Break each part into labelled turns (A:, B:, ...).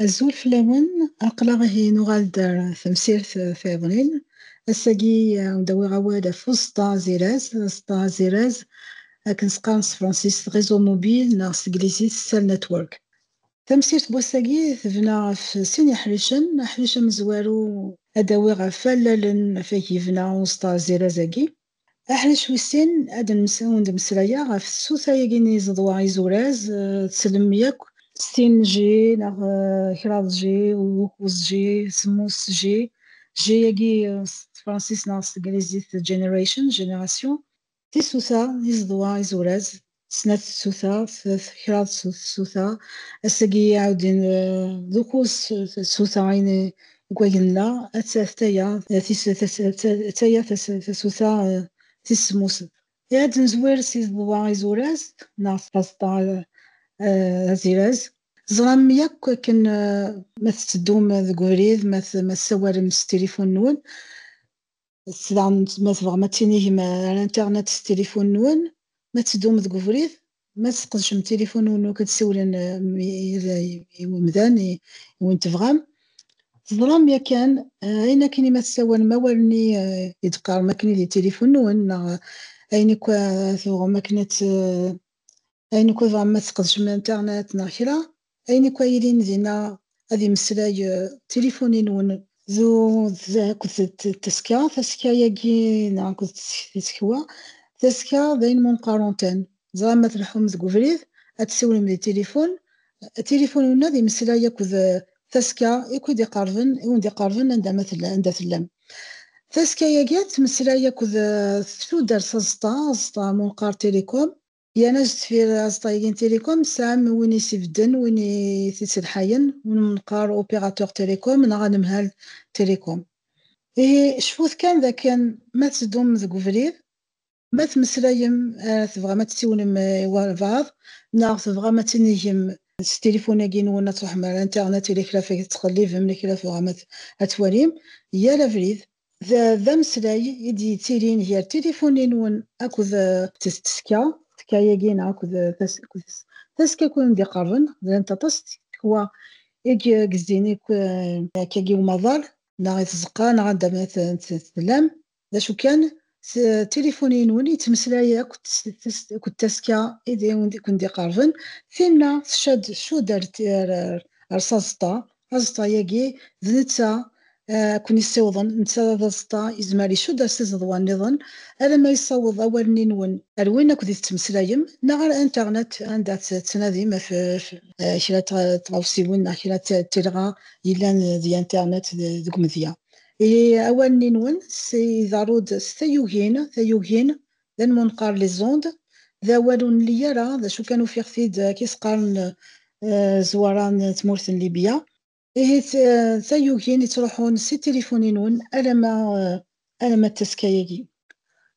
A: Azul fell-awen, aql-aɣ ihi nuɣal-d ar temsirt tayeḍnin. Ass-agi ad awiɣ awal ɣef uẓeṭṭa aziraz. Aẓeṭṭa aziraz akken s-qqaren s tefransist réseau mobile neɣ s teglizit cell network. Tamsirt n wass-agi tebna ɣef sin yeḥricen, aḥric amezwaru ad d-awiɣ ɣef wallalen afak yebna uẓeṭṭa azziraz-agi, aḥric wis sin ad wen-d-mmeslayeɣ ɣef tsuta-agi n yiẓeḍwa izuraz, tsellmem yakk? Settin G neɣ kraḍ G, ukuẓ G, semmus G, G-agi s tefransist neɣ s teglizit generation, génération, Tisuta, iẓeḍwa, izuraz, snat tsuta, kraḍ tsuta, ass-agi iɛawdin d ukuẓ tsuta ini deg wagen-nna, attaya attaya tasuta tis semmus. I ad nezwir s iẓeḍwa izuraz neɣ s tazeṭṭa aziraz? Teẓram yakk akken ma tetteddum deg ubrid, ma tessawalem s tilifun-nwen, daɣen ma tebɣam ad tinigem ar internet s tilifun-nwen, ma ad teddum deg ubrid, ma ad tesqedcem tilifun-nwen ad tsiwlem i wemdan i wen tebɣam. Teẓram yakan ayen akken i ma tessawalem awal-nni i d-teqqarem akken i di tilifun-nwen neɣ ayen akk tebɣam akken ad Ayen akk tebɣam ma tesqedcem internet neɣ kra, ayen akk ay ilin dinna ad yemmeslay tilifun-nwen. D tazekka akked teskka, tasekka-agi neɣ akked tsekwa, tasekka d ayen ma nqaruntan, ẓran ma tleḥḥum deg ubrid ad tessiwlem di tilifun, tilifun-nwen ad yemmeslay akked tasekka akk i d-iqerben, i wen-d-iqerben anda ma tella, anda tellam. Tasekka-agi ad tmeslay akked tuddar s aẓeṭṭa, aẓeṭṭa munqar, télécom. Yanac deffir aẓeṭṭa-agi n Télécom, tesɛam win i s-ibedden, win i t-id-selḥayen, win mneqqar opérateur télécom neɣ anemhal Télécom. Ihi cfut kan d akken ma tetteddum deg ubrid, ma temmeslayem, tebɣam ad tessiwlem i walbaɛḍ neɣ tebɣam ad tinigem s tilifun-agi-nwen, ad truḥem ar internet, yella kra feg tettqellibem, yella kra tebɣam ad twalim, yal abrid D d ameslay i d-yettilin gar tilifun-nwen akked teskka. Teskka-agi neɣ akked taskka i wen-d-iqerben, llant aṭas teskwa i yezzin akka i umaḍal neɣ i tzeqqa neɣ anda ma tellam, d acu kan s tilifuni-nwen yettmeslay akked akked tasekka i kent-iqerben, tinna tcad tcudd ar ar s aẓeṭṭa, aẓeṭṭa-agi d netta ara ken-yessiwḍen, netta d aẓeṭṭa yezmer icudd ar s iẓeḍwa-nniḍen, alamma yessaweḍ awal-nni-nwen ar win akked i tettmeslayem neɣ ar internet anda tettnadim af kra n tɣawsiwin neɣ kra n telɣa yellan di internet deg umedya. I awanen-nwen s iḍerru-d s tayugin, tayugin, d anmunqar, les ondes, d awal ur nli ara, d acu kan ufiɣ-t-id ad k-is-qqaren zzwara n tmurt n Libya. Ihi d tayugin yettruḥun si tilifun-nwen alamma d tazzka-agi.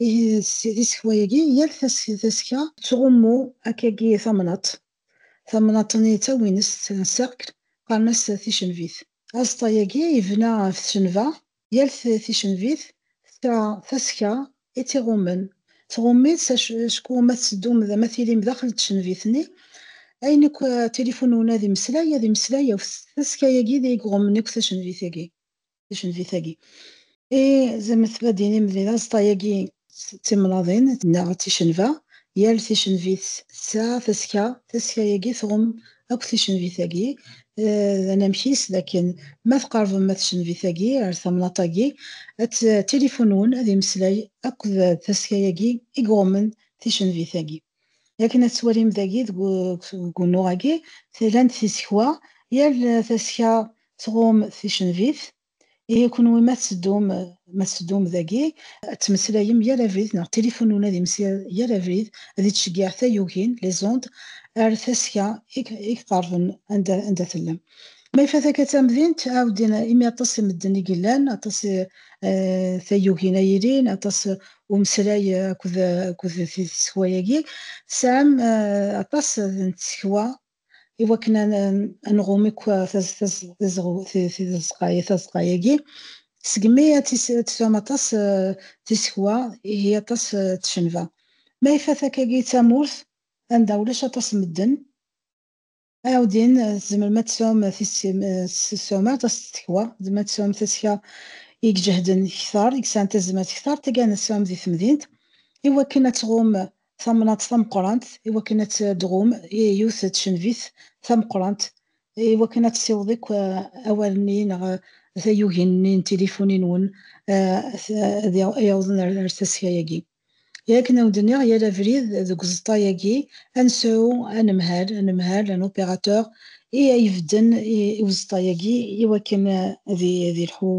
A: Di tsekwa-agi, yal tasekka tettɣummu akkagi tamnaḍt. Tamnaḍt-nni d tawinest, un cercle, qqaren-as ticenvit. Azeṭṭa-agi yebna ɣef tcenva, yal ticenvit tesɛa tasekka i tt-iɣummen. Tɣumm-itt acku ma tetteddum d ma tilim daxel n tcenvit-nni, ayen akk tilifunun ad imeslay, ad imeslay ɣef tasekka-agi i iɣummen akk tacenvit-agi. ticenfit-agi. I zem tbadin imedli d aẓeṭṭa-agi d timnaḍin neɣ d ticenfa, yal ticenfit tesɛa taska, taska-agi tɣum akk ticenfit-agi, d anamek-is d akken ma tqerbem ma ticenfit-agi ar tamnaḍt-agi ad tilifunun, ad imeslay akk d taska-agi i iɣummen ticenfit-agi. Akken ad twalim dagi deg unuɣ-agi, tlan-d tisekwa, yal taska tɣum ticenvit, ihi kunwi ma tteddum ma tteddum dagi ad ttmeslayem yal abrid neɣ tilifun ula d imsir yal abrid ad ittceggiɛ tayugin, les ondes, ar taska i iqerben anda anda tellam. Ma ifat akka d tamdint, ɛawden imi aṭas n medden i yellan, aṭas tayugin ay ilin, aṭas umeslay akked tsekwa-agi, tesɛam aṭas n tsekwa i wakken ad nɣum akk tazeqqa-agi. Segmi ad tesɛum aṭas n tsekwa, ihi aṭas n tcenba. Ma ifat akkagi d tamurt anda ulac aṭas n medden, Ɛawdin, tzemrem ad tesɛum ssuma tastekwa, tzemrem ad tesɛum tasekka i iǧehden kter, i yesɛan tazmert kter, taggara n ssɛum di temdint, i wakken ad tɣum tamnaḍt tameqqrant, i wakken ad tɣum yiwet n tcenvit tameqqrant, i wakken ad tessiweḍ akk awal-nni neɣ tayugin-nni n tilifuni-nwen ad awḍen ar taseka-agi. I akken a wen-d-nniɣ, yal abrid deg uẓeṭṭa-agi, ad nesɛu anemhal, anemhal, un opérateur, i a ibedden i uẓeṭṭa-agi i wakken ad ilḥu,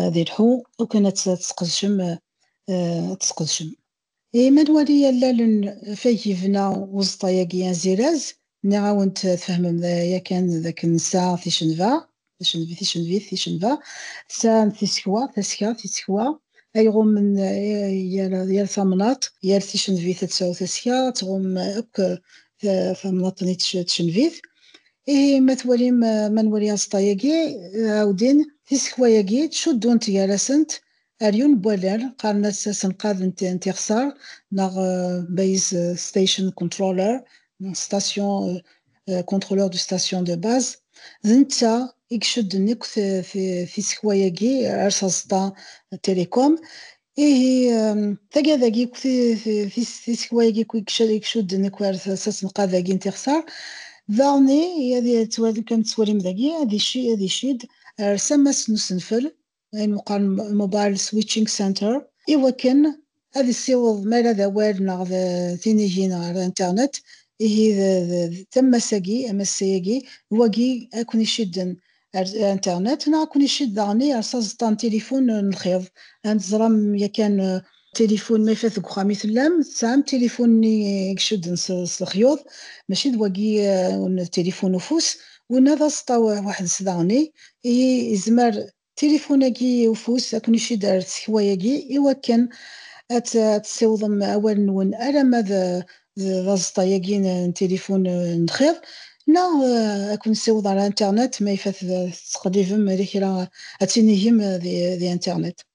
A: ad ilḥu u kan ad t-tesqedcem, ad t-tesqedcem. I ma nwali allalen feg yebna uẓeṭṭa-agi aziraz, Nniɣ-awent tfehmem yakan d akken nsa ticenva, ticenvi, ticenvit, ticenva, tsa n tisekwa, taska, tisekwa, ay ɣummen yal tamnaḍt, yal ticenvit ad tsaw taska, ad tɣumm akk tamnaḍt n tcenvit. Ihi ma twalim, ma nwali aẓeṭṭa-yagi, ɛawdin, tisekwa-yagi ttcuddunt gar-asent, Aryun n wallal, qqaren-as asenqad n tixsar neɣ base station controller neɣ station contrôleur de station de base, d netta i icudden akk tisekwa-agi ar s aẓeṭṭa Télécom. Ihi, taggada-agi akk, tisekwa-agi akk i icudden akk ar s asenqad-agi n tixsar, daɣen ad yettwali, kan tettwalim dagi, ad icid ar s ammas n usenfel, ayen meqqren mobile switching center, iwakken ad issiweḍ mi ara d awal neɣ d tinigin ɣer internet, ihi d tammas-agi, amassay-agi, d wagi ad ken-icedden ar internet neɣ ad ken-icedd daɣen ar s aẓeṭṭa n tilifun n lxiḍ, ad teẓrem yakan Tilifun, ma ifat deg uxxam i tellam, tesɛam tilifun-nni i icudden s lexyuḍ, mačči d wagi n tilifun ufus, winna d aẓeṭṭa weḥd-s daɣen-i, ihi yezmer tilifun-agi ufus ad ken-icidd ar tsekwa-agi iwakken ad tessiwḍem awal-nwen alamma d aẓeṭṭa-agi n tilifun n lxiḍ, neɣ ad ken-nessiweḍ ar internet ma ifat tettqellibem di kra ad tinigem di internet.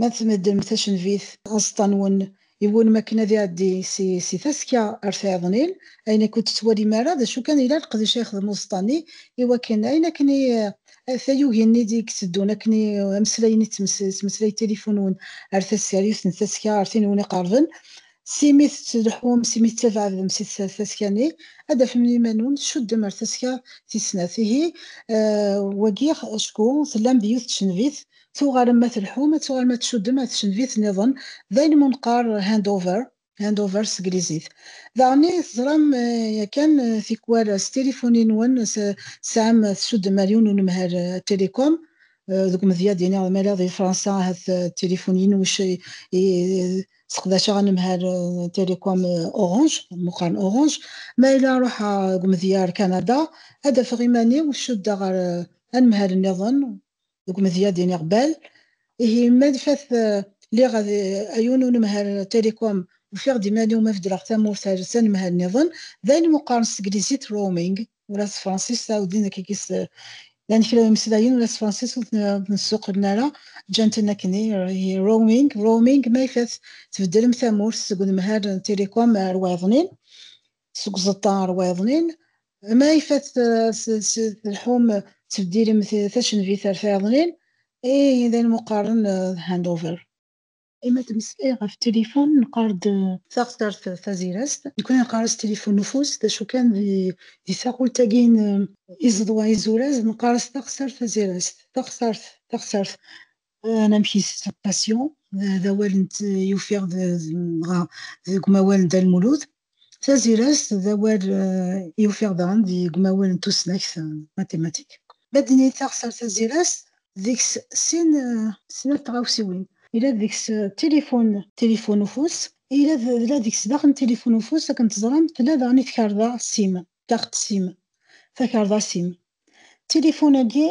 A: Ma tmeddrem tacenvit. Aẓeṭṭa-nwen iwulem akken ad iɛeddi si taska ar tɛiḍnil, ayen akk ur d-tettwalim ara, d acu kan yella leqdic ay ixdem uẓeṭṭa-nni i wakken ayen akken i tayugin i d-itteddun akken i ameslayen i tettmeslay tilifun-nwen ar tasseryust n taska ar tin i wen-iqerben, si mi tettleḥḥum si mi tettabɛadem si taska-nni, ad d-tafem iman-nwen tcuddem ar taska tis snat. Ihi, wagi acku tellam di yiwet tcenvit Tuɣalem ma telḥum, ad tuɣalem ad tcuddem ɣer tcenvit niḍen, d ayen mu neqqar hand over, hand over s teglizit. Daɣen i teẓram yakan tikwal s tilifuni nwen tesɛam tcuddem ar yiwen unemhal telecom, deg umedya ad iniɣ ma yella di Fransa ahat d tilifuni inwec i seqdaceɣ anemhal n telecom Orange, mu qqaren Orange, ma yella ruḥeɣ deg umedya ar Canada ad afeɣ iman-iw cuddeɣ ɣer anemhal niḍen deg umedya-d iniɣ bal, ihi ma d fat lliɣ ad ayun unemhal telecom ufiɣ-d iman-iw ma beddleɣ tamurt ar tanemhal nniḍen, d ayen meqqaren s teglizit roaming, ula s tefransist ɛawed din akka kis llan kra imeslayen ula s tefransist ur ten-ssuqlen ara, ǧǧan-ten akken ihi roaming, roaming, ma ifat tbeddlem tamurt seg unemhal n telecom ar wayeḍnin, seg uẓeṭṭa ɣer wayeḍnin, ma ifat telḥum tebdilem tacenvit ar tayeḍnin, i yidan muqaren d handover. Imi ad d-neslay ɣef tilifun neqqar-d. Taɣsert tazirast, nekkni neqqar-as tilifun n ufus, d acu kan di taɣult-agi n iẓeḍwa izuraz neqqar-as taɣsert tazirast, taɣsert, taɣsert, anamek i la passion d awal n yufiɣ dɣa deg umawal n Dda Lmulud. Tazirast d awal i ufiɣ daɣen deg umawal n tusnakt, mathématique. Ma d-nini taɣsert tazirast, deg-s sin snat tɣawsiwin. Yella deg-s tilifun, tilifun ufus, yella deg-s daxen tilifun ufus akken teẓram, tella daɣen i tkarḍa sim, carte sim, takarḍa sim. Tilifun-agi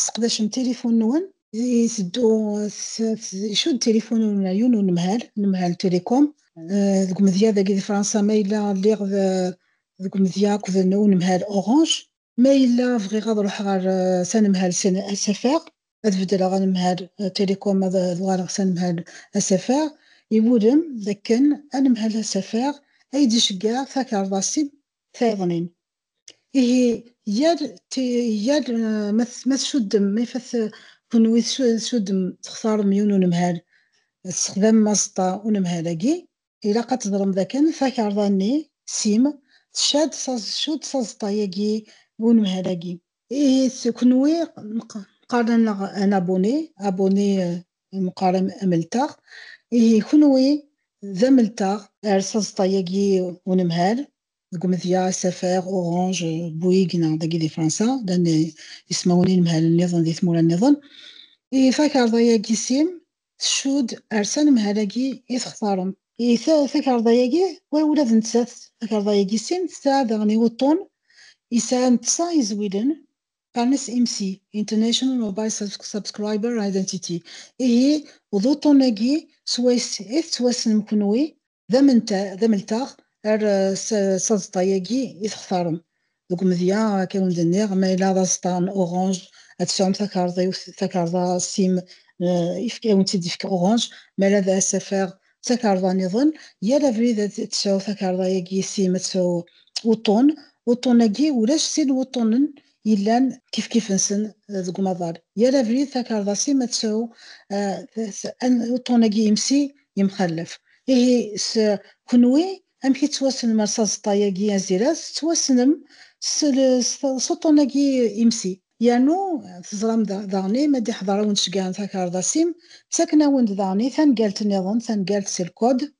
A: Sseqdacem tilifun-nwen. Iteddu icudd tilifun n umɛyun unemhal, anemhal Telecom, deg umedya dagi di Fransa ma yella lliɣ deg umedya akked unemhal Orange. Ma yella bɣiɣ ad ruḥeɣ ɣer s anemhal SFR, ad beddleɣ anemhal Telecom ad uɣaleɣ s anemhal SFR, iwulem d akken anemhal SFR ay d-iceggeɛ takeṛḍa-s tayeḍnin, ihi yal yal eh, ma tcuddem ma ifat eh, kenwi tcuddem textarem yiwen unemhal tessexdamem aẓeṭṭa unemhal-agi ilaq ad teẓrem dakken takarḍa-nni sim tcad tcudd s aẓeṭṭa-agi unemhal-agi ihi kenwi qqaren-aneɣ an abuni abuni eh, mqaren ameltaɣ ihi kenwi d ameltaɣ ar s aẓeṭṭa-agi unemhal deg umedya, asafag, uɣunj, buyigi neɣ dagi di Fransa, llan ismawen inemhalen-nniḍen di tmura-nniḍen. I takarḍa-yagi sim, tcudd ar s anemhal-agi i textarem. I takarḍa-yagi, wa ula d nettat, takarḍa-yagi sim, tesɛa daɣen iweṭṭun yesɛan ṭṭsa izwilen, qqaren-as IMSI, International Mobile Subscriber Identity. Ihi, d uṭṭun-agi swayes i tettwassnem kenwi d ameltaɣ ar s aẓeṭṭa-agi i textarem. Deg umedya, akka wen-d-nniɣ, ma yella d aẓeṭṭa n orange, ad tesɛum takarḍiwt, takarḍa sim, ad wen-tt-id-ifk orange, ma yella d asafar d takarḍa niḍen, yal abrid ad tesɛu takarḍa-agi sim, ad tesɛu uṭṭun, uṭṭun-agi ulac sin wuṭṭunen yellan kifkif-nsen deg umaḍal. Yal abrid takarḍa-s-im ad tesɛu uṭṭun-agi imsi yemxallef. Ihi s kenwi amek i tettwassnem ar s aẓeṭṭa-agi aziraz? Tettwassnem s uṭṭun-agi imsi. Yernu teẓram daɣen i ma d-iḥḍer-awen-d ceggɛen takarḍa-s-im, ttaken-awen-d daɣen i tangalt-nniḍen, tangalt s lkod.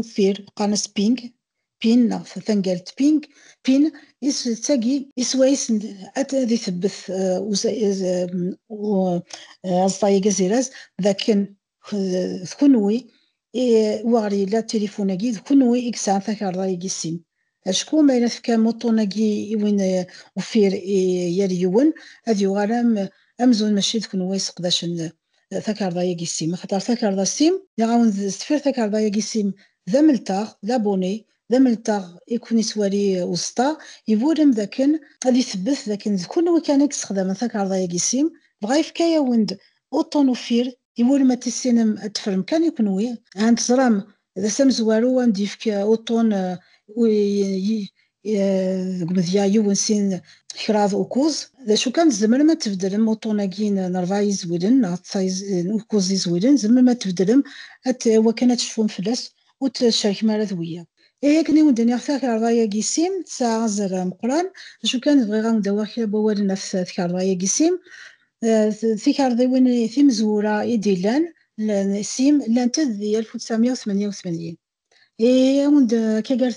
A: uffir qqaren-as ping pin neɣ tangalt ping pin is d tagi isways ad itebbet aẓeṭṭa-agi aziraz dakken d kenwi war yella tilifun-agi d kenwi i yesɛan takarḍa-agi sin Acku ma yella tefkam uṭṭun-agi i win uffir i yal yiwen, ad yuɣal am amzun mačči d kunwi i seqdacen takarḍa-agi sim, axaṭer takarḍa sim, yaɣ-awen d tefir takarḍa-agi sim d amelteɣ, d abonné, d amelteɣ i ken-ittwali uẓeṭṭa, iburem dakken ad ithebbet dakken d kunwi kan i yessexdamen takarḍa-agi sim, dɣa yefka-yawen-d uṭṭun uffir, iburem ad tissinem ad tefrem kan i kunwi, ahat teẓram d ass amezwaru am d-yefk uṭṭun deg umedya yiwen sin kraḍ u kuẓ. D acu kan, tzemrem ad tbeddlem uṭṭun-agi n rebɛa yizwilen neɣ n u kuẓ yizwilen, tzemrem ad t-tbeddlem i wakken ad tecfum fell-as ur t-cerkem ara d wiyaḍ. Ihi akken i wen-d-nniɣ takarḍa-agi sim tesɛa azal ameqqran, d acu kan bɣiɣ ad wen-d-awiɣ kra n wawalen ɣef tkarḍa-agi sim, tikarḍiwin timezwura i d-illan sim llant-d di 1988 awen-d akka gar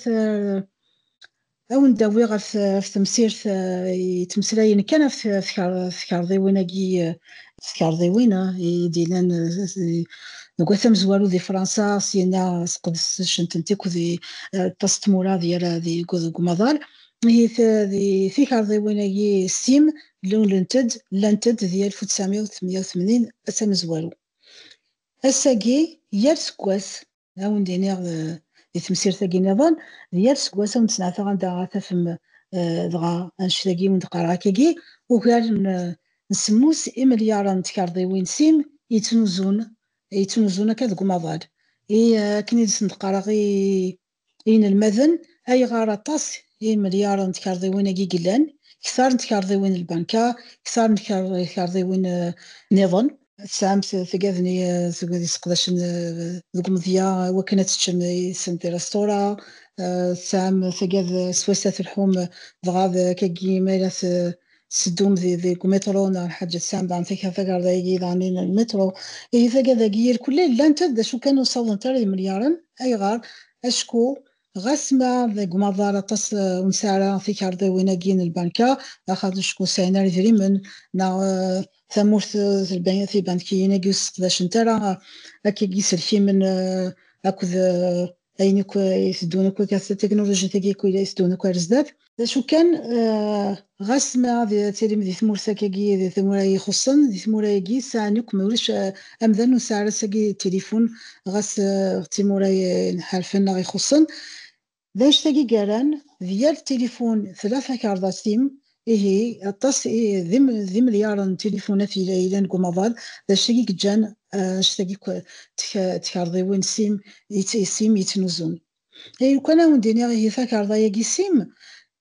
A: awen-d awiɣ ɣef temsirt yettmeslayen kan ɣef tkarḍiwin-agi tkarḍiwin i d-illan deg wat amezwaru di Fransa syinna sqedcent-tent akk di aṭas n tmura di yal deg umaḍal ihi tikarḍiwin-agi sim lunlent-d, llant-d di alef u ttɛemya u tmenya u tmenin d tamezwaru. Ass-agi, yal seg wass, ad awen-d-iniɣ di temsirt-agi nniḍen, d yal seg wass ad awen-d-sneɛtaɣ anda ara tafem dɣa annect-agi i wen-d-qqareɣ akkagi, ugar n semmus imelyaṛen n tkerḍiwin sim yettnuzzun, yettnuzzun akka deg umaḍal, i akken i d-sen-d-qqareɣ i I yinelmaden, ayɣer aṭas i imelyaren n tkerḍiwin-agi yellan, kter n tkerḍiwin n lbanka, kter n tkerḍiwin niḍen? Tesɛamt tagadni seg wid yesseqdacen deg umedya iwakken ad teččem yid-sen tirestura? Tesɛam tagad swayes ad telḥum dɣa d kagi ma yella tettedum deg umitṛu neɣ lḥaǧa tesɛam daɣen takra tagarda-agi daɣen n lmitṛu. Ihi taga dagi irkul ay llant d acu kan ur sawḍent ara yimelyaṛen. Ayɣer? Acku ɣas ma deg umaḍal aṭas ur nesɛi ara tikarḍiwin-agi n lbanka, axaṭ acku ur sɛin ara idrimen neɣ tamurt tibankiyin-agi ur sseqdacent ara akka n yiselkimen akked ayen akk iteddun akk tatiknulujit agi akk iteddun akk ar zdat d acu kan ɣas ma ad tilim di tmurt agi di tmura ixuṣṣen di tmura agi sɛan akk ma ulac amdan ur sɛi ara sagi tilifun ɣas d timura iḥerfen neɣ ixuṣṣen d anect-agi i yerran di yal tilifun tella takerḍa-s tim Ihi, aṭas d imelyaṛen n tilifunat i yellan deg umaḍal, d acu i yeǧǧan anect-agi akk n tkarḍiwin sim yettnuzun? Ay lukan ad awen-d-iniɣ ihi takarḍa-agi sim,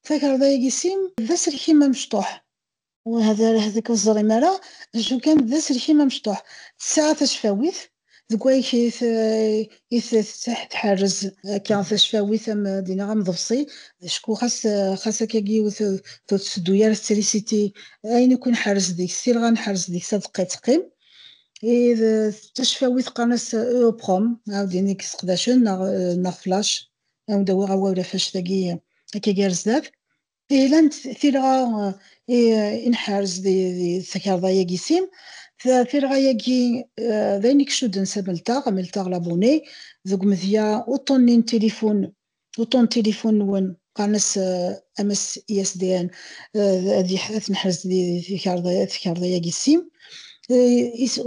A: takarḍa-agi sim d aselkim amecṭuḥ, wah d arah deg ur teẓrim ara, acu kan d aselkim amecṭuḥ, tesɛa tacfawit, deg wamek i tettḥerrez akka tacfawit am dinna am ḍebṣi acku xas xas akkagi ur tetteddu ara tetrisiti ayen akk i nḥerrez deg-s tilɣa nḥerrez deg-s adeqqa yettqim id tacfawit qqaren-as eoprom ɛawdin i yesseqdacen neɣ neɣ flash ad awen-d-awiɣ awal ɣef anect-agi akkagi ar zdat Ilant tilɣa i nḥerz di takarḍa-yagi sim, tilɣa-yagi d ayen i icudden s amelteɣ, amelteɣ l'abonné, deg umedya uṭṭun-nni n tilifun, uṭṭun n tilifun-nwen, qqaren-as amas ISDN, ad t-neḥrez di takarḍa-yagi sim,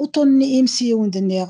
A: uṭṭun-nni imsiwed nniɣ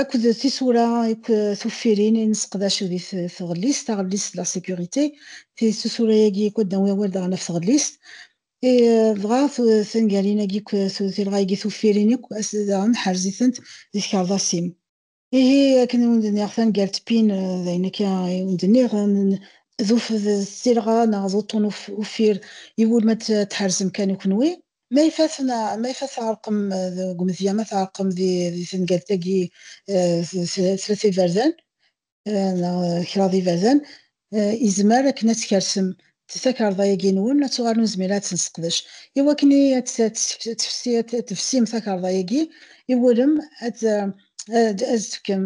A: akked tisura akk tuffirin i nesseqdac di tɣellist, taɣellist la sécurité, tisura-agi akk ad d-nawi awal daɣen ɣef tɣellist, dɣa tangarin-agi akk tilɣa-agi tuffirin akk daɣen ḥerz-itent di tkerḍasin. Ihi akken i wen-d-nniɣ tangalt pin d ayen akka i wen-d-nniɣ d tilɣa neɣ d uṭṭun uffir iwulma ad tḥerzem kan i kenwi, Ma ifassen, ma ifat tɛerqem deg umedya, ma tɛerqem di di tengalt-agi tlata iberdan neɣ kraḍ iberdan, izmer akken ad tkersem takarḍa-agi-nwen, ad tuɣalem nezmir ad tt-nesseqdec. I wakken i ad tefsim takarḍa-agi, iwulem ad d-tefkem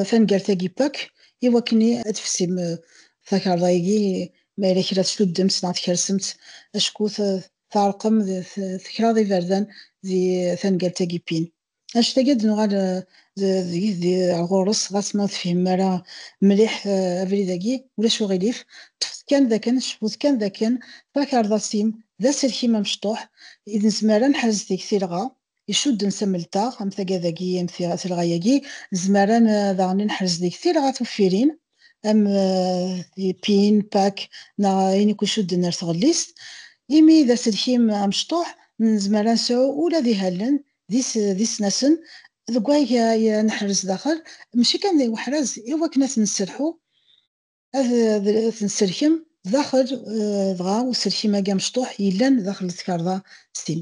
A: taneggartagi pak i wakken ad tfessim takarḍa-agi ma yella kra tsuddem s neɣ tkersemt acku tɛerqem tekraḍ iberdan di taneggartagi pin anect-agi ad nuɣal ar ɣur-s ɣas ma ur tefhim ara mliḥ abrid-agi ulac uɣilif ṭṭfet kan dakken cfut kan dakken takarḍa-s-im d aselkim amecṭuḥ i d nezmer ad nḥrez deg-s ilɣa icudden s amelteɣ, am tagada-agi, am telɣa-agi, nezmer ad daɣen ad neḥrez deg tilɣa tuffirin, am pin, pak, neɣ ayen akk icudden ar tɣellist, imi d aselkim amecṭuḥ, nezmer ad nesɛu ula d ihallen d isnasen deg wayeg ad neḥrez daxel, mačči kan i weḥraz, i wakken ad ten-nesserḥu, ad ten-nesserkem daxel, dɣa uselkim-agi amecṭuḥ yellan daxel tkarḍa s tin.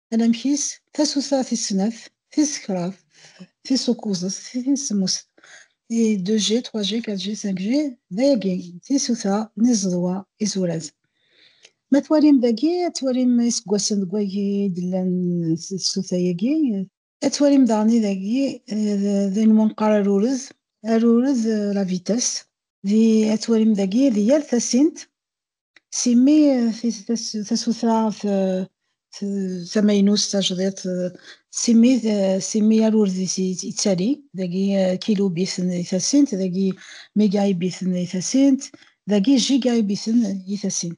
A: anamek-is, tasuta tis snat, tis kraḍt, tis ukuẓet, tis semmuset, i 2G, 3G, 4G, 5G, dayagi, tisuta n iẓeḍwa izuraz. Ma twalim dagi, ad twalim iseggasen deg wagi i d-llan tsuta-agi, Ad twalim daɣen idagi d ayen umi neqqar arurez, arurez la vitesse, di ad twalim dagi di yal tasint, s imi tasuta tamaynut tajdiṭ, s imi s imi arurez-is yettali, dagi kilubiten di tasint, dagi migaybiten di tasint, dagi gigaybiten di tasint.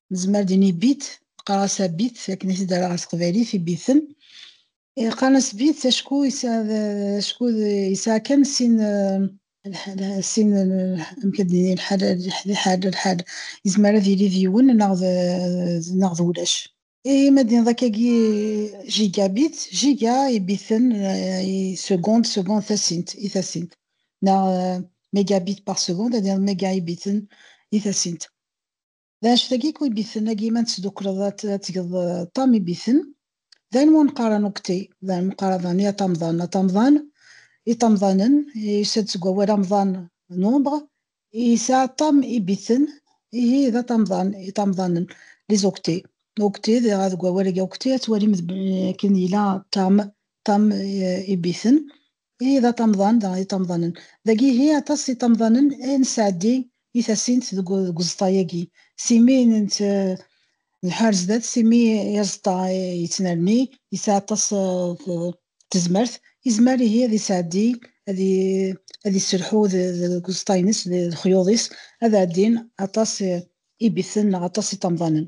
A: nezmer din i bit qqar-as a bit akken i t-id s teqbaylit i biten qqar-as bit acku acku yesɛa kan sin sin amek ad d-nini lḥal lḥal lḥal yezmer ad yili d yiwen neɣ d neɣ d ulac i ma d-niniḍ akkagi jigabit jiga i biten i segond segond tasint i tasint neɣ megabit par segond ad d-niniḍ mega i biten i tasint D anect-agi ku ibiten agi ma tesdukleḍ ad tgeḍ ṭam ibiten. D ayen wan qqaren ukti, d ayen qqaren dani aṭamḍan. Aṭamḍan, iṭamḍanen, yusa-d seg wawal amḍan, nombre, yesɛa ṭam ibiten, ihi d aṭamḍan, iṭamḍanen, les octets. Octet, dɣa deg wawal-agi octet ad twalim akken yella ṭam, ṭam ibiten, i d aṭamḍan, d iṭamḍanen. Dagi ihi aṭas n iṭamḍanen i nesɛeddi i tasint deg uẓeṭṭa-agi, s imi nelḥa ar zdat, s imi i aẓeṭṭa yettnerni, yesɛa aṭas n tezmert, yezmer ihi ad yesɛeddi, ad yesselḥu deg uẓeṭṭa-ines, d lexyuḍ-is, ad ɛeddin aṭas n ibiten neɣ aṭas n iṭamḍanen.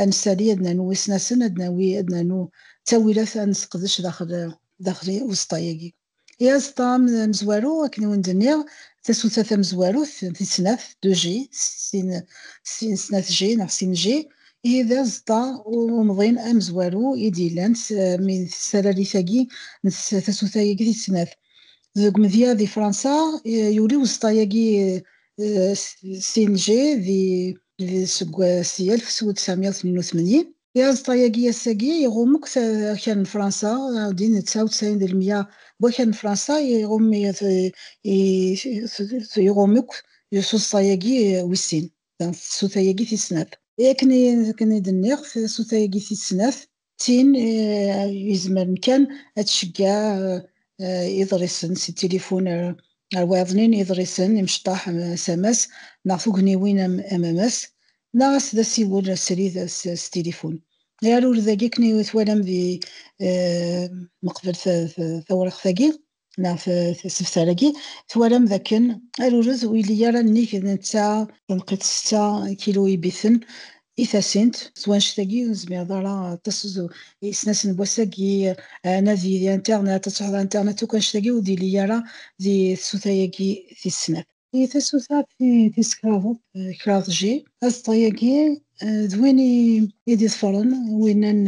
A: ad nsali ad nernu isnasen ad nawi ad nernu ttawilat ad nesqedec daxel daxel uẓeṭṭa-agi. I aẓeṭṭa amezwaru akken i wen-d-nniɣ tasuta tamezwarut tis snat 2G sin sin snat G neɣ sin G ihi d aẓeṭṭa umḍin amezwaru i d-yellan mi s talalit-agi n tasuta-agi tis snat. Deg umedya di Fransa yuli uẓeṭṭa-agi sin G di Seg wass i 1982, aẓeṭṭa-agi ass-agi iɣum akk akal n Fransa, ɛudin d 99 d lmya n wakal n Fransa i iɣum akk s uẓeṭṭa-agi wis sin, tsuta-agi tis snat. Akken i d-nniɣ, tsuta-agi tis snat tin yezmeren kan ad tceggeɛ iḍrisen si tilifun ar wayeḍnin n yiḍrisen imecṭaḥ s amas neɣ tugniwin am amas, neɣ as d asiwel srid s tilifun. I arurd-agi akken i twalam di meqbel tawriqt-agi, neɣ tesebtar-agi twalam d akken arurez ur yelli ara nnig netta tanqiḍt setta kilu ibiten i tasint s wanect-agi ur nezmir ara aṭas isnas n wass-agi anadi di internet ad tesɛuḍ internet akk anect-agi ur d-yelli ara di tsuta-agi tis snat. I tasuta tis kraḍet, kraḍ G, aẓeṭṭa-agi d win i d-iḍefren winna n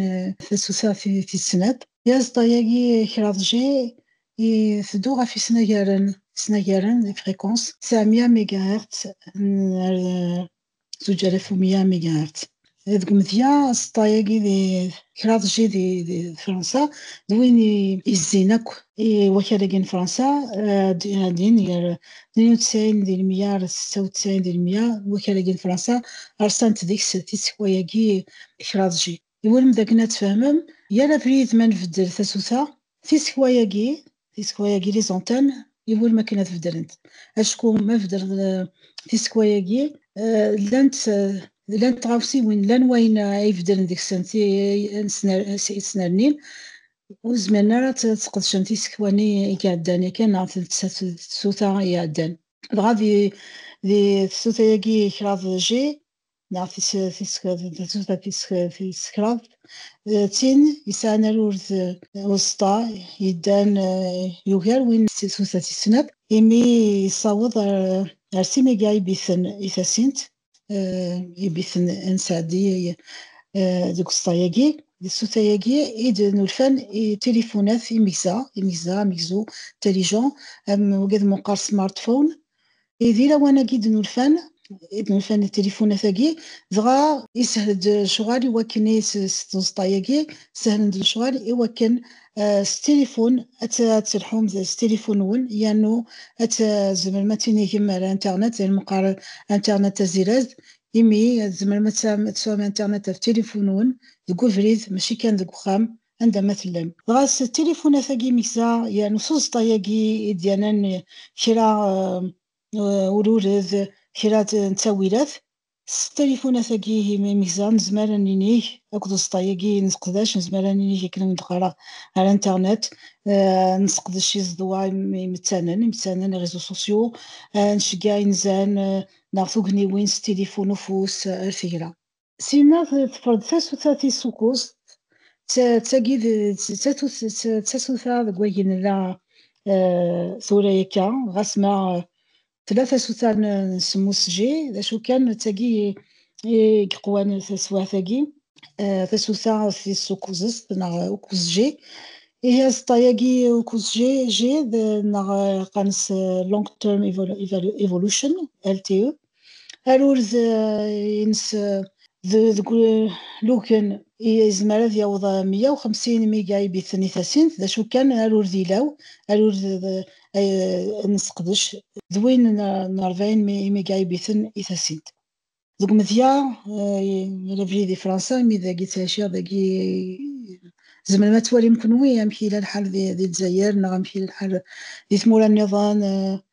A: tasuta tis snat. I aẓeṭṭa-agi kraḍ G iteddu ɣef isnagaren, isnagaren, les fréquences, ţɛemya mégahertz n zuǧer af umya mi gart. Deg umedya, aẓeṭṭa-agi di kraḍ ji di Fransa, d win yezzin akk i wakal-agi n Fransa, din gar 92 di lemya ar 96 di lemya, wakal-agi n Fransa, rṣant deg-s tisekwa-agi kraḍ ji. Twalem dakken ad tfehmem, yal abrid ma nbeddel tasuta, tisekwa-agi, tisekwa-agi, les antennes, iwulem akken ad beddlent. Acku ma beddleḍ tisekwa-agi, llant llant tɣawsiwin, llan wayen ay beddlen deg-sen tesnernin, ur zmiren ara ad sqedcen tisekwa-nni i iɛeddan yakan neɣ tasuta i iɛeddan. Dɣa di di tasuta-agi kraḍ G, neɣ tissekreḍt, d tin yesɛan arurd uẓeṭṭa yeddan yugar win n tsuta tis snat, imi yessaweḍ ar sin iga ibiten i tasint, ibiten n Sɛdi deg uẓeṭṭa-agi. D tsuta-agi i d-nulfan i tilifunat imegza, imegza, amegzu, intelligent, am wagi d meqqar smartphone, Idir awan-agi d-nulfan, i d-nulfan d tilifunat-agi, dɣa yeshel-d lecɣal i wakken i s tzeṭṭa-agi, sehlen-d lecɣal i wakken s tilifun ad telḥum s tilifun-nwen yernu ad tzemrem ad tinigem ar internet, d ayen meqqar internet tazirazd, imi ad tzemrem ad tesɛum internet ɣef tilifun-nwen deg ubrid mačči kan deg uxxam, anda ma tellam. Dɣa s tilifunat-agi imekza yernu s uẓeṭṭa-agi i d-yernan kra n urured, kra n ttawilat, s tilifunat-agi imekza nezmer ad ninig akked uẓeṭṭa-agi i nesseqdac nezmer ad ninig akken ad d-qqareɣ ar internet, nesseqdec izeḍwa imettanen, imettanen, les réseaux sociaux, nceggeɛ inzan neɣ tugniwin s tilifun ufus ar tegra. Sima tefreḍ tasuta tisukkuẓt, d tagi d tasuta deg wagi nella tura akka, ɣas ma tella tasuta n semmusji, d acu kan d tagi i yeqwan taswiɛt-agi, tasuta tisukkuẓt neɣ ukkuẓji. Ihi aẓeṭṭa-agi ukkuẓji neɣ qqaren-as long term evolution, LTE, arurd eh, ines eh, deg luken yezmer ad yaweḍ 150 miga ibiten i tasint d acu kan arurd ilaw arurd eh, nesqedec d win n 40 miga ibiten i tasint deg umedya labrid i fransa imi dagi ttɛiciɣ dagi zemrem ad twalim kenwi amek yella lḥal di lezzayer neɣ amek yella lḥal di tmura nniḍen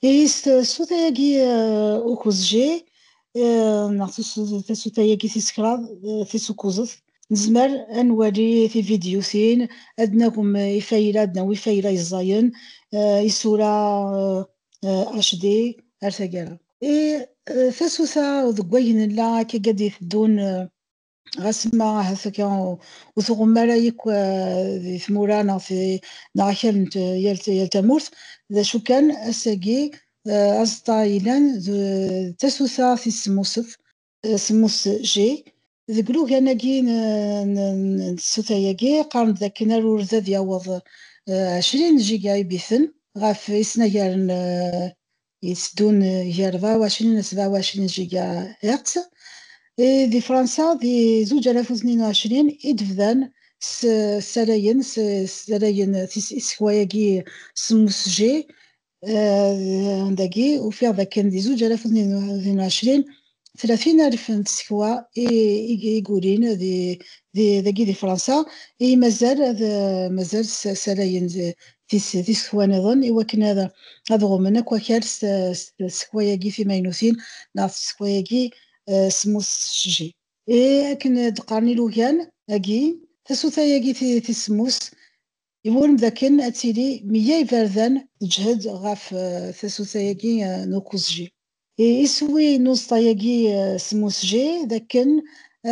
A: Tis tasuta-agi ukuzji neɣ tasuta-agi tis kraḍ tis ukuzet, nezmer ad nwali tividyutin, ad d-nagem ifayla, ad d-nawi ifayla yeẓẓayen, isura HD ar taggara. I tasuta deg wayen nella akka i d-iteddun ɣas ma ahat akka ur tɣum ara yakk eh, di tmura neɣ neɣ akal n yal tamurt d acu kan ass-agi eh, aẓeṭṭa yellan d tasuta tis semmusef eh, semmus G deg lugan-agi n tsuta-agi qqaren-d akken arurd ad yaweḍ 20 giga ibiten ɣef isnagaren yetteddun gar beɛwacen n tbeɛwacin n gigahertz, i di Fransa di zuǧ alaf u tnin u ɛecrin i d-bdan ssalayen ssalayen isekwa-agi semmus G, dagi ufiɣ d akken di zuǧ alaf u tnin u ɛecrin 30 alf n tsekwa i gulin dagi di Fransa i mazal ad mazal salayen tisekwa niḍen i wakken ad ad ɣumen akk akal s tsekwa-agi timaynutin neɣ tsekwa-agi semmus tessejji. I akken d-qqaren ilugan agi, tasuta-agi tis semmus Iwulem d akken ad tili meyya iberdan. Teǧhed ɣef tasuta-agi n ukusji. Iswi n uẓeṭṭa-agi s umusji d akken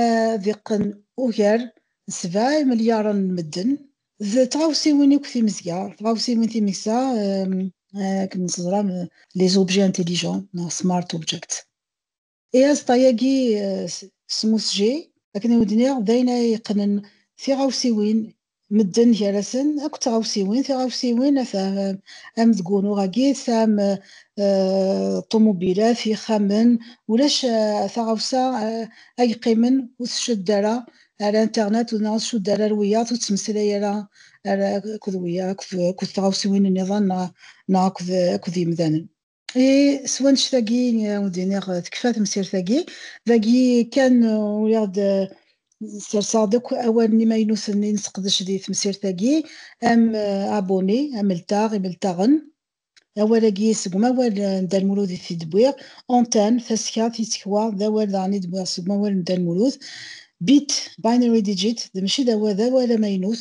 A: ad iqqen ugar n sebɛa imelyaren n medden. D tɣawsiwin akk timezga, tɣawsiwin timegza, akken teẓram, les objets intelligents neɣ smart objects. I aẓeṭṭa-agi smusjay akken i wen-d-nniɣ d ayen ara yeqqnen tiɣawsiwin medden gar-asen akk tɣawsiwin, tiɣawsiwin ata am deg wunuɣ-agi tesɛa am ṭumubilat, ixxamen, ulac taɣawsa ay yeqqimen ur tcudd ara ar internet neɣ ur tcudd ara ar wiyaḍ, ur tettmeslay ara akked wiyaḍ akked tɣawsiwin niḍen neɣ akked yimdanen. I s wannect-agi ur d-iniɣ tekfa temsirt-agi, dagi kan uriɣ-d serseɣ-d akk awalen imaynuten i nesseqdec di temsirt-agi, am abonné, ameltaɣ, imeltaɣen. Awal-agi seg umawal n Dda Lmulud i t-id-wwiɣ, antenne, tasekka, tisekwa, d awal daɣen i d-wwiɣ seg umawal n Dda Lmulud. Bit, binary digit, d mačči d awal amaynut,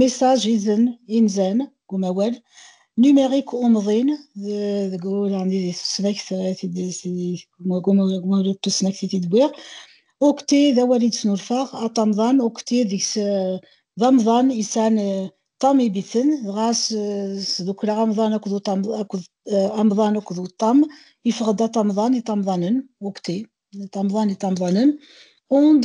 A: message izen inzan deg umawal numérique umḍin deg urɛni di tusnakt umawal n tusnakt i t-id-wwiɣ ukti d awal i d-snulfaɣ atamḍan ukti deg-s d amḍan yesɛan ṭam ibiten dɣa sdukleɣ amḍan akked amḍan akked uṭam yeffeɣ-d atamḍan itamḍanen ukti atamḍan itamḍanen und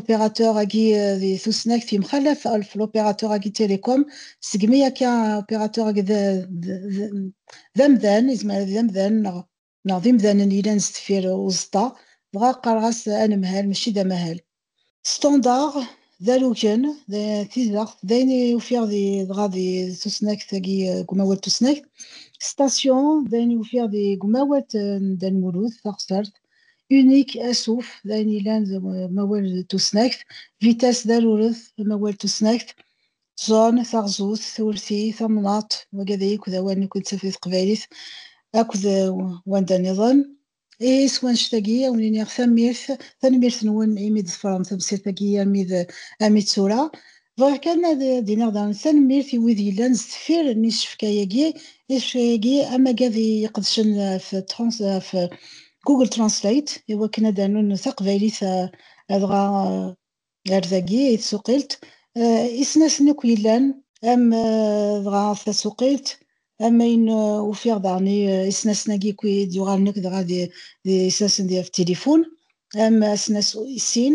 A: opérateur agi di tusnakt yemxalaf alf l'opérateur agi télécom segmi akka opérateur agi d amdan yezmer ad d amdan neɣ neɣ d imdanen yellan sdeffir uẓeṭṭa dɣa qqareɣ-as anemhal mačči d amahal standard d alugen d tizeɣt d ayen i ufiɣ di dɣa di tusnakt agi deg umawal tusnakt station d ayen i ufiɣ di umawal n Dda Lmulud taɣsert Unique asuf, d ayen yellan d amawal d tusnakt. Vitesse d aruret, d amawal d tusnakt. Zone, taɣzut, turti, tamnaḍt, wagad akk d awal nekk nettaf di teqbaylit akked wanda niḍen. Ihi s wanect-agi ad wen-iniɣ tanemmirt, tanemmirt-nwen imi d-tefrem tamsirt-agi armi d armi d tura. Bɣiɣ kan ad d-iniɣ daɣen tanemmirt i wid yellan sdeffir n isefka-agi, isefka-agi amagad iqedcen ɣef ɣef Google Translate i wakken ad d-rnun taqbaylit dɣa ar dagi i tsuqilt, isnasen akk yellan, am dɣa tasuqilt, am ayen ufiɣ daɣen i isnasen-agi akk i d-yuɣalen akk dɣa d isnasen ɣef tilifun, am asnas i sin,